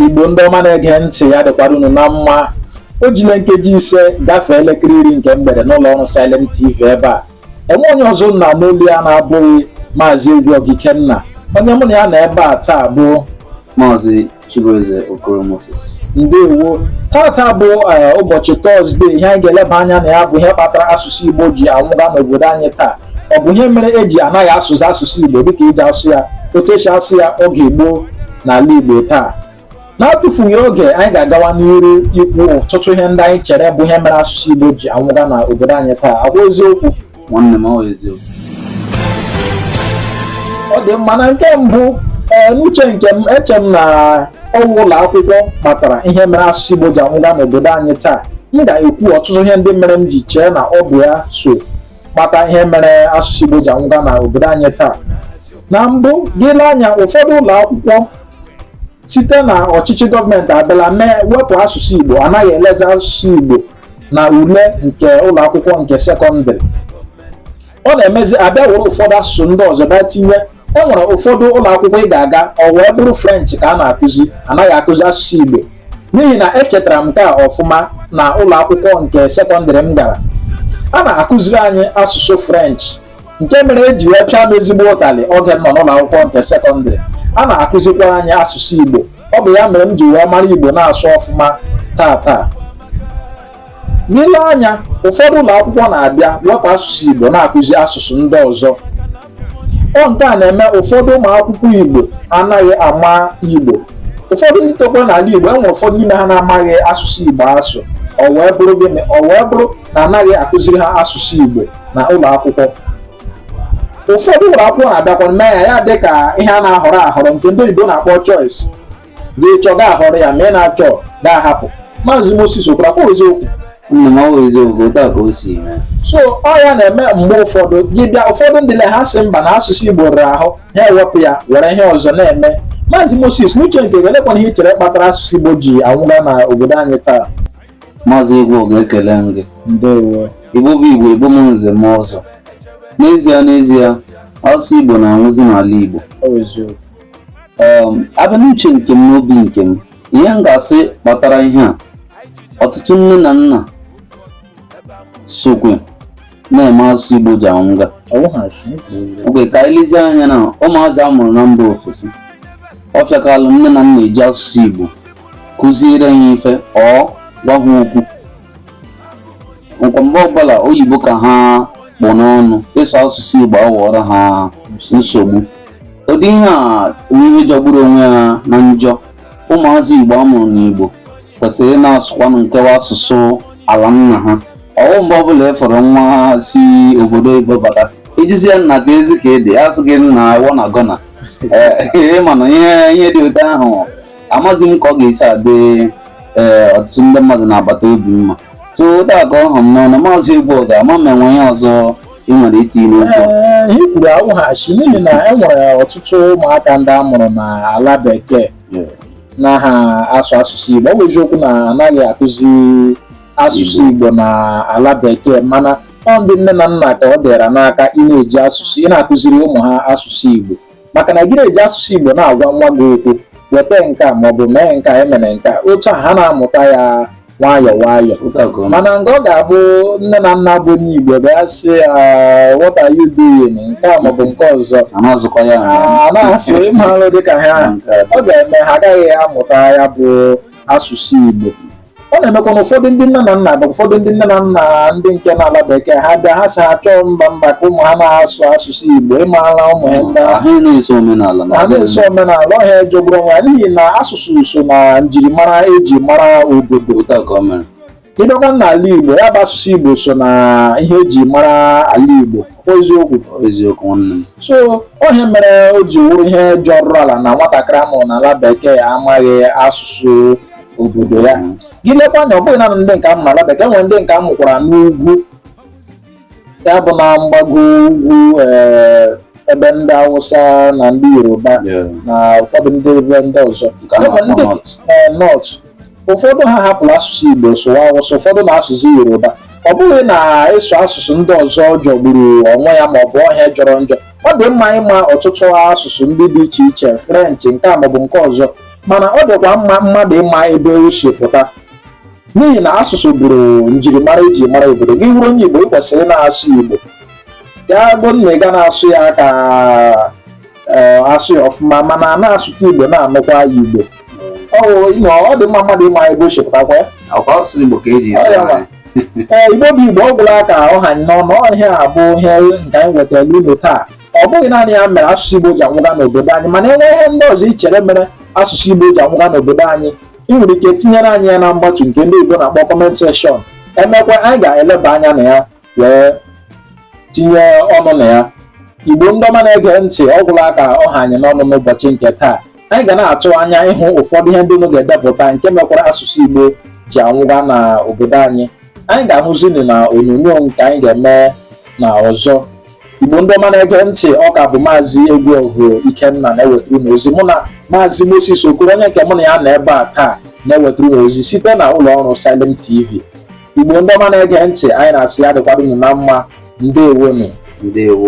igbo ndị ọma na-ege ntị ya dịkwara unu na mma o jila nkeji ise gafee elekere iri nke mgbede n'ụlọ ọrụ Silent TV ebe a enwe onye ọzọ unu na-anụ olu ya na-abụghị maazị Egwuogu Ikenna onye mụ na ya nọ ebe a taa bụ maazị Chibueze Okoro Moses ndewo tata bụ eh, ụbọchị tọzdee ihe anyị ga-eleba anya na ya bụ ihe kpatara asụsụ Igbo ji anwụga n'obodo anyị taa ọ bụ ihe mere eji anaghị asụzi asụsụ Igbo dịka eji asụ ya otu esi asụ ya oge gboo n'ala Igbo taa n'atụfughị oge anyị ga-agawa n'iru ikwu ọtụtụ ihe ndị anyị chere bụ ihe mere asụsụ Igbo ji anwụga na obodo anyị taa ọ kwa eziokwu nwanne m ọ eziokwu ọ dị mma na nke mbụ ee n'uche nke m eche m na ọ wụ ụlọ akwụkwọ kpatara ihe mere asụsụ Igbo ji anwụga n'obodo anyị taa m ga-ekwu ọtụtụ ihe ndị mere m ji chee na ọ bụ ya so kpata ihe mere asụsụ Igbo ji anwụga na obodo anyị taa na mbụ gị lee anya ụfọdụ ụlọ akwụkwọ site na ọchịchị gọọmenti abịala mee wepụ asụsụ Igbo anaghị elezi asụsụ Igbo na ule nke ụlọ akwụkwọ nke sekọndịrị ọ na-emezi abịa were ụfọdụ asụsụ ndị ọzọ bịa tinye e nwere ụfọdụ ụlọ akwụkwọ ị ga-aga ọ wee bụrụ french ka a na-akụzi anaghị akụzi asụsụ igbo n'ihi na echetara m nke a ọfụma na ụlọ akwụkwọ nke sekọndịrị m gara a na-akụziri anyị asụsụ french nke mere eji wee pịa m ezigbo ụtalị oge m nọ n'ụlọ akwụkwọ nke sekọndịrị a na-akụzikwa anyị asụsụ igbo ọ bụ ya mere m ji wee mara igbo na-asụ ọfụma taa taa na ị lee anya ụfọdụ ụlọ akwụkwọ na-abịa wepụ asụsụ igbo na-akụzi asụsụ ndị ọzọ ọ nke a na-eme ụfọdụ ụmụ akwụkwọ Igbo anaghị ama Igbo ụfọdụ ndị tokwara n'ala Igbo enwere ụfọdụ n'ime ha na-amaghị asụsụ Igbo asụ ọ wee bụrụ gịnị ọ wee bụrụ na anaghị akụziri ha asụsụ Igbo na ụlọ akwụkwọ ụfọdụ ụlọ akwụkwọ na-abịakwa mee ya ya dị ka ihe a na-ahọrọ ahọrọ nke ndị oyibo na-akpọ choice gị chọọ gị ahọrọ ya ma ị na-achọ gị ahapụ maazị Moses Okoro ọ kwa eziokwu nna m ọ wụ eziokwu otu a ka o si mee so ọ ya na-eme mgbe ụfọdụ gị bịa ụfọdụ ndị le ha sị mba na asụsụ Igbo rara ahụ ha ewepụ ya were ihe ọzọ na-eme maazị Moses n'uche nke gị elekwanụ ihe i chere kpatara asụsụ Igbo ji anwụga na obodo anyị taa maazị Egwuogu ekele m gị ndewo Igbo bụ Igbo Igbo mụ nze mụọ ọzọ n'ezie n'ezie asụsụ Igbo na-anwụzi n'ala Igbo um, abịa n'uche nke m n'obi nke m ihe m ga-asị kpatara ihe a ọtụtụ nne na nna sokwe na-eme asụsụ Igbo ji anwụga okay ka anyị lezie anya na ụmụazị a mụrụ na mba ofesi ọ fịakalụ nne na nna iji asụsụ Igbo kụziere ha ife or gwa ha okwu kwa mgbe ọbụla oyibo ka ha kpụ n'ọnụ ịsụ asụsụ Igbo aghọọrọ ha nsogbu ụdị ihe a bụ ihe jọgburu onwe ya na njọ ụmụazị Igbo amụrụ n'Igbo kwesịrị na-asụkwanụ nke wụ asụsụ ala nna ha ọwụ mgbe ọbụla ị fụrụ nwa si obodo oyibo bata ị jụzie ya nnaa kezi ka ị dị asị gị na wanna gonna ee mana ihe ihe dị otu ahụ amaghị m ka ọ ga-esi adị ee ọtụtụ ndị mmadụ n'agbata obi mma so ụdị a ka ọ ha m n'ọnụ maazị Ebuka ama m enwe ihe ọzọ ị nwere itinye n'okwu ee ihe i kwuru awụghị asị n'ihi na e nwere ọtụtụ ụmụaka ndị a mụrụ na ala bekee na ha asụ asụsụ igbo ọ bụ eziokwu na anaghị akụzi asụsụ igbo na ala bekee mana ọ ndị nne na nna ka ọ dịra n'aka ị na-eji asụsụ ị na-akụziri ụmụ ha asụsụ igbo maka na gị na-eji asụsụ Igbo na-agwa nwa gị okwu weta nke a maọbụ mee nke a emere nke a otu a ha na-amụta ya nwayọ nwayọ mana nke ọ ga-abụ nne na nna bụ onye Igbo bịa sị ya what are you doing nke a maọbụ nke ọzọ a na-asụ ịmalụ dịka ha ọ ga-eme ha agaghị amụta ya bụ asụsụ Igbo ọ na-emekwa na ụfọdụ ndị nne na nna bụ ụfọdụ ndị nne na nna ndị nke n'ala bekee ha bịa ha si achọ mba mba ka ụmụ ha na-asụ asụsụ igbo ịmara ụmụ ha ndị ahụ ha na-eso omenala na ha na-eso omenala ọ ihe jọgburu onwe ya n'ihi na asụsụ so na njirimara eji mara obodo otu a ka ọ mere ị bịakwa n'ala igbo ya bụ asụsụ igbo so na ihe eji mara ala igbo kwa eziokwu eziokwu nwanne m so ọ ihe mere o ji wụrụ ihe jọrọ ala na nwatakịrị amụrụ n'ala bekee amaghị asụsụ obodo ya mm. gị lekwa anya ọ bụghị naanị ndị nke amụ n'ala bekee nwere ndị nke amụkwara n'ugwu ya bụ na mgbago ugwu eh, ebe ndị awụsa na ndị yoruba na ụfọdụ ndị ebe ndị ọzọ ndị north eh, ụfọdụ ha hapụrụ asụsụ igbo sụwa awụsa ụfọdụ na asụsụ yoruba ọ bụghị na ịsụ asụsụ ndị ọzọ jọgburu onwe ya maọbụ ọ ihe jọrọ njọ ọ dị mma ịma ọtụtụ asụsụ ndị dị iche iche french nke a maọbụ nke ọzọ mana ọ dịkwa mma mmadụ ịma ebe o si pụta n'ihi na asụsụ bụrụ njirimara eji mara obodo gị bụrụ onye Igbo ị kwesịrị na-asụ Igbo ya bụ na ị ga na-asụ ya ka eh, asụ ya ọfụma mana a na-asụta Igbo na-anụkwa ya Igbo ọ dị mma mmadụ ịma ebe o si pụtakwa ya ee igbo bụ igbo ọ gwụla ka ọ ha anyị n'ọnụ ihe a bụ ihe nke anyị wetara unu taa ọ bụghị naanị ya mere asụsụ Igbo ji anwụga n'obodo anyị mana enwe ihe ndị ọzọ i chere mere asụsụ Igbo ji anwụga n'obodo anyị ị nwere ike tinyere anyị ya na mgbatu nke ndị oyibo na-akpọ comment section emekwa anyị ga-eleba anya na ya wee tinye ọnụ na ya Igbo ndị ọma na-ege ntị ọ gwụla ka ọ ha anyị n'ọnụ n'ụbọchị nke taa anyị ga na-atụ anya ịhụ ụfọdụ ihe ndị unu ga-edepụta nke mekwara asụsụ Igbo ji anwụga na obodo anyị anyị ga-ahụzi unu na onyonyo nke anyị ga-eme na ọzọ Igbo ndị ọma na-ege ntị ọ ka bụ maazị Egwuọgụ Ikenna na-ewetara unu ozi mụ na maazị Moses Okoro onye nke mụ na ya nọ ebe a taa na-ewetara unu ozi site na ụlọ ọrụ Salem TV Igbo ndị ọma na-ege ntị anyị na-asị ya dịkwara unu na mma ndewonu ndewo